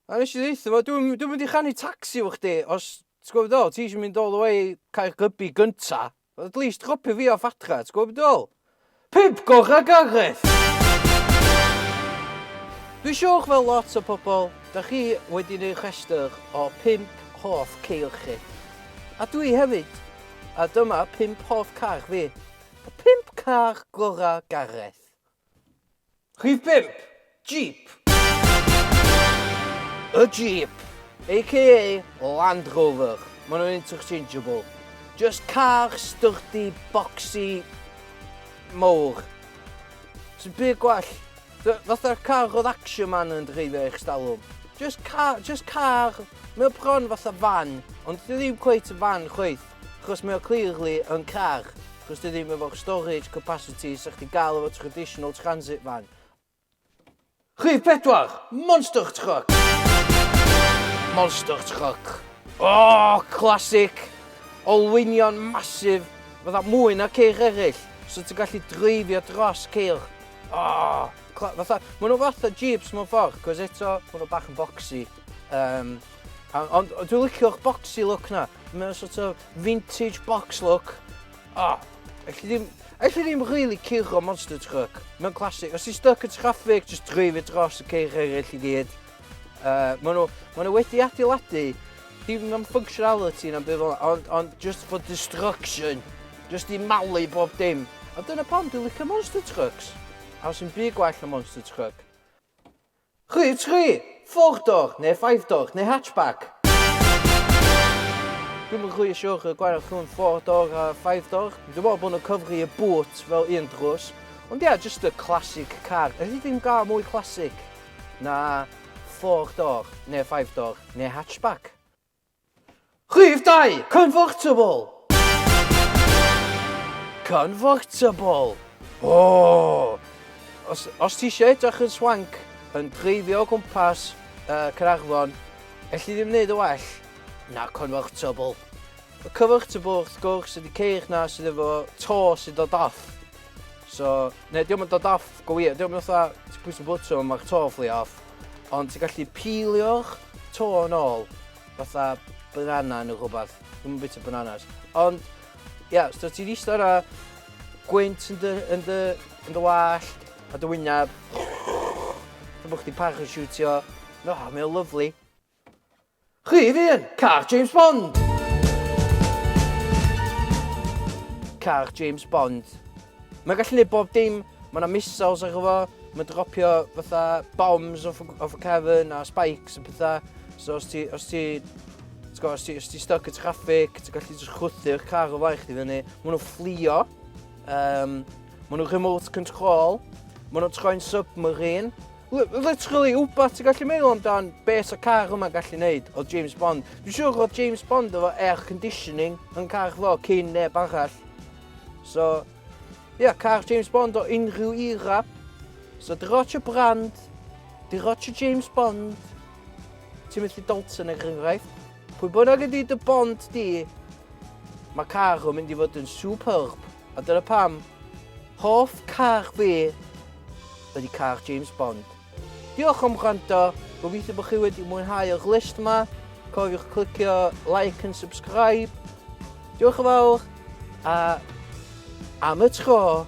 A nes i ddeitha fo, dwi'n dwi mynd i chanu tacsi fo chdi, os ti'n gwybod ddol, ti eisiau mynd all the way Caergybi gynta, at least chopio fi off adra, ti'n gwybod ddol? Pip gorau Gareth! Dwi'n siwch fel lot o pobl, da chi wedi gwneud rhestr o pimp hoff ceir chi. A dwi hefyd, a dyma pimp hoff car fi. Y pimp car gorau Gareth. Rhif pump, Jeep. Y Jeep, aka Land Rover, maen nhw'n interchangeable. Just car styrdi, boxy, mowr. Sy'n byd gwell. Fatha car oedd Action Man yn dreifio eich stalwm. Just car, just car. Mae o bron fatha fan, ond ddim cweith y fan chweith. Achos mae o clearly yn car, achos dyw e ddim efo'r storage capacity 'sa chdi'n gael efo traditional transit van. Rhif pedwar, Monster Truck! Monster Truck. O! Classic! Olwynion massive, fatha mwy na ceir eraill, so ti'n gallu dreifio dros ceir. O! Fatha, maen nhw fatha Jeeps mewn ffordd, cos eto, maen nhw bach yn boxy. Um, ond dwi'n licio'ch boxy look na. Mae'n sort of vintage box look. O, oh, elli ddim, elli ddim really curo monster truck. Mae'n classic. Os ti'n stuck yn traffic, just dreif i dros y ceir eraill i gyd. Uh, mae nhw, ma nhw wedi adeiladu dim am functionality na'n byd fel ond, ond just for destruction. Just i malu bob dim. A dyna pam dwi'n licio monster trucks. A os yn byd gwell na monster truck. Rhydd tri! Four door, neu five door, neu hatchback? Dwi'm yn rhy siwr y gwael rhwng four door a five door. Dwi'n meddwl bod nhw'n cyfri y boot fel un drws. Ond ia, jyst y classic car. Elli di'm gael mwy classic na four door, neu five door, neu hatchback. Rhif 2, Convertible. Convertible. O! Os, os ti eisiau edrych yn swank yn dreifio o gwmpas uh, Caernarfon, elli ddim wneud y well na Convertible. Y Convertible, wrth gwrs, ydy ceir na sydd efo to sydd dod off. So, neu diolch yn dod off, go wir, diolch yn fatha, ti'n pwysau bwtio, mae'r to fflio off. Ond ti'n gallu pilio'r to yn ôl, fatha banana neu rhywbeth. Dwi'n yn bita bananas. Ond, ia, yeah, so ti'n eistedd yna, gwynt yn dy, yn dy, yn dy wallt, a dy wyneb. Dwi'n bod chdi parachutiwtio. No, mae'n lyflu. Chi fy'n car James Bond! Car James Bond. Mae'n gallu gwneud bob dim. Mae yna missiles ar efo. Mae'n dropio fatha bombs off, off y cefn a spikes a pethau. So os ti, os ti, os ti, os ti stuck y traffic, ti'n gallu just chwthu'r car o flaen chdi fyny. Mae nhw'n fflio. Um, Mae nhw'n remote control. Mae nhw'n troi'n submarine. Literally, wbath ti'n gallu meddwl amdan be sa car yma gallu neud o James Bond. Dwi'n siŵr oedd James Bond efo air conditioning yn car fo cyn neb arall. So, ia, yeah, car James Bond o unrhyw era. So, di rotch y brand, di rotch y James Bond, Timothy Dalton er enghraifft. Pwy bynnag ydy dy bond di, mae car yn mynd i fod yn superb. A dyna pam, Hoff car fi ydy car James Bond. Diolch am gwrando, gobeithio bod chi wedi mwynhau yr list yma. Cofiwch clicio like and subscribe. Diolch yn fawr, a am y tro,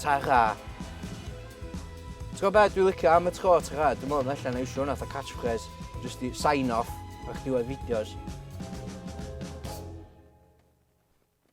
ta ra. Ti'n gwybod beth dwi'n licio am y tro, ta ra, dwi'n meddwl allan na iwsio hwnna fatha catchphrase, just i sign off ar chdiwedd fideos.